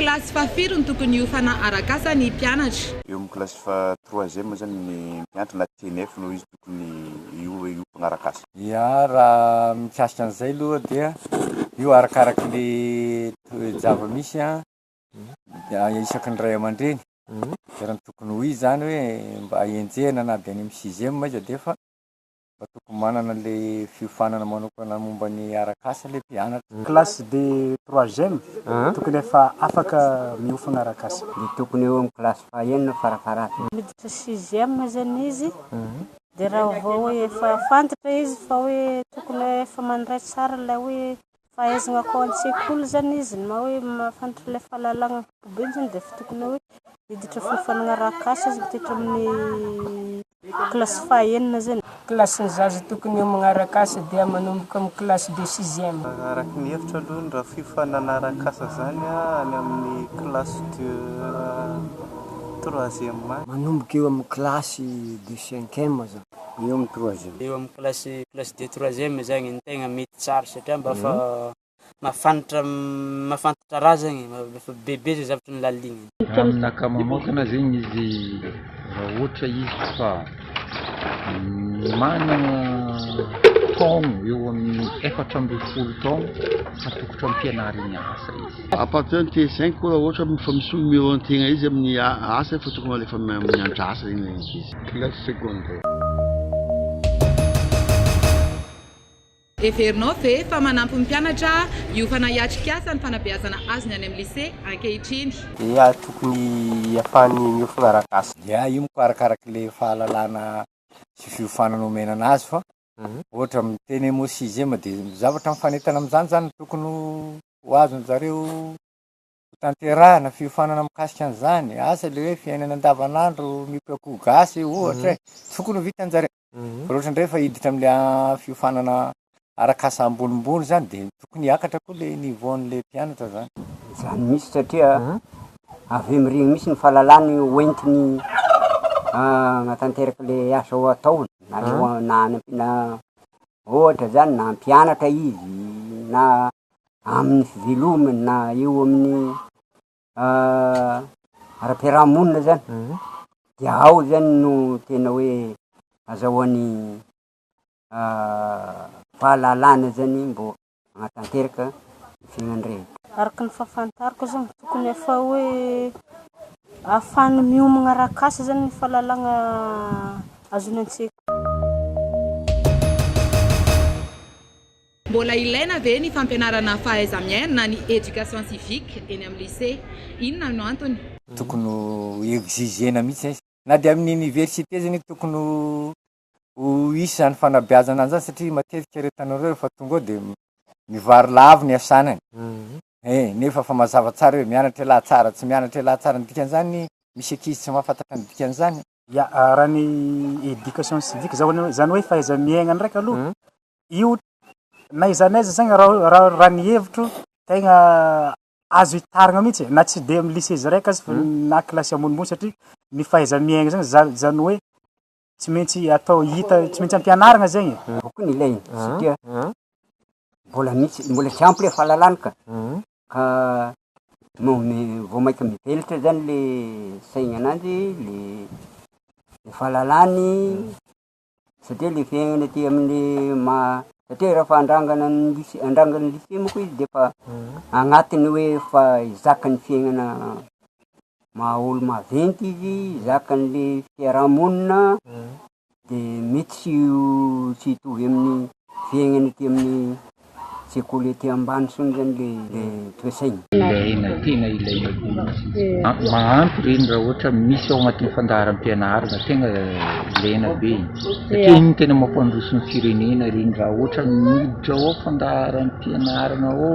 Kilasy fahafiry no tokony hiofana arak'asa ny mpianatra? Eo amin'ny kilasy faha troisième zany ny mpianatra na TNF no izy tokony hiofana arak'asa. Ya, raha mikasika an'izay aloha dia io arakaraky le toe-javamisy isaky ny ray aman-dreny, dia raha ny tokony ho izy zany hoe mba enjehina na dia any amin'ny sixième aza dia efa. fa tokony manana le fiofanana manokana momba ny arak'asa le mpianatra. Classe de troisième tokony efa afaka miofana arak'asa. Dia tokony eo amin'ny classe fahenina farafaharatiny. Miditra sixième zany izy dia raha vao hoe efa fantatra izy fa hoe tokony hoe efa mandray tsara ilay hoe fahaizana akao an-tsekoly zany izy na hoe mahafantatra ilay fahalalana ankapobeny zany dia efa tokony hoe hiditra fiofanana arak'asa izy miditra amin'ny Kilasy fahenina izay. Kilasy ny zaza tokony ho magnaraka asa dia manomboka amin'ny kilasy de sixième. Araka ny hevitro aloha ny raha fifa nanaraka asa izany any amin'ny kilasy de troisième any. Manomboka eo amin'ny kilasy de cinquième izany. Eo amin'ny troisième. Eo amin'ny kilasy kilasy de troisième izany no tegna mety tsara satria mba fa. mahafantra mahafantatra raha zegny e, efa bebe zay zavatra nolaligniny. Raha aminakahy manokana zegny izy raha ohatra izy ka managna taogno eo amin'ny efatra ambin'ny folo taogno atokotro am-pianarigny asa izy. À partir ny tee cinq koa raha ohatra efa misy numéro ny tegna izy amin'ny asa efa tokony alefa mianatra asa zegny le ankizy. Classe secondaire. Heverinao ve fa manampy ny mpianatra io fanahy hiatrikasa ny fanabeazana azony any amin'ny lise ankehitriny? Dia tokony hiafahan'ny miofona ara-gasy. Dia io moa arakaraky ilay fahalalana sy fiofanana omena anazy fa ohatra miteny hoe mots sixième dia zavatra mifanentana amin'izany izany no tokony ho azon'izareo. hotanterahina fiofanana mikasika an'izany, asa ilay hoe fiainana andavanandro mikoakoa gasy ohatra e, tsy tokony ho vitan'jareo, fa raha ohatra indray efa hiditra amin'ilay fiofanana arak'asa ambonimbony izany dia tokony hiakatra koa ilay niveau-n'ilay mpianatra izany. Izany mihitsy satria avy eo mirigny mihitsy ny fahalalany hoentiny hanatanteraka ilay asa ataony na any ampiana Ohatra zany na mpianatra izy na amin'ny fivelomany na eo amin'ny ara-piaraha-monina zany de ao zany no tena hoe azahoany fahalalana zany mbô hanatanteraka ny fiainany rehetra. Araka ny fahafantarako zany tokony efa hoe ahafahany miomagna arak'asa zany ny fahalalagna azony an-tsekoly. Mbola ilaina ve ny fampianarana fahaiza-miaina na ny éducation civique eny amin'ny lycée? Inona no antony? Tokony ho exiger-na mihitsy izay. Na dia amin'ny université aza anie tokony ho ho hisy izany fanabeazana izany satria matetika ry tanora ireo rehefa tonga ao dia mivary lavo ny asanany e, nefa efa mazava tsara hoe mianatra ialahy tsara, tsy mianatra ialahy tsara, ny dikan'izany misy ankizy tsy mahafantatra ny dikan'izany. Ya, raha ny education civique izany hoe izany hoe fahaiza-miaigna ndraika aloha io na aiza na aiza zegny raha raha raha ny hevitro tegna azo itarigna mihitsy e, na tsy dia amin'ny lycée izy raiky aza fa na kilasy ambonimbony satria ny fahaiza-miaigna zany zany zany hoe Tsy maintsy atao hita, tsy maintsy ampianarina zegny e. Boky no ilaigny satria mbola misy, mbola tsy ampy le fahalalana ka, ka no mi- vao mainka mivelatra zany le saignananjy, le fahalalany, satria le fiaignana aty amin'ny maha, satria rehefa andrangana ny lycée, andrangana ny lycée moa koa izy defa agnatiny hoe efa hizaka ny fiaignana. maha olo maventy izy, zakan'le fiaraha-monina, de mety tsy ho tsy hitovy amin'ny fiaignany aty amin'ny sekoly aty ambany intsony zany le le toe-tsaigny. Ilaina, tena ilaina koa, mahampy reny raha ohatra misy ao agnatin'ny fandaharam-pianarana, tegna ilaina be e, satria igny tena mampandroso ny firenena reny raha ohatra ny miditra ao fandaharam-pianarana ao,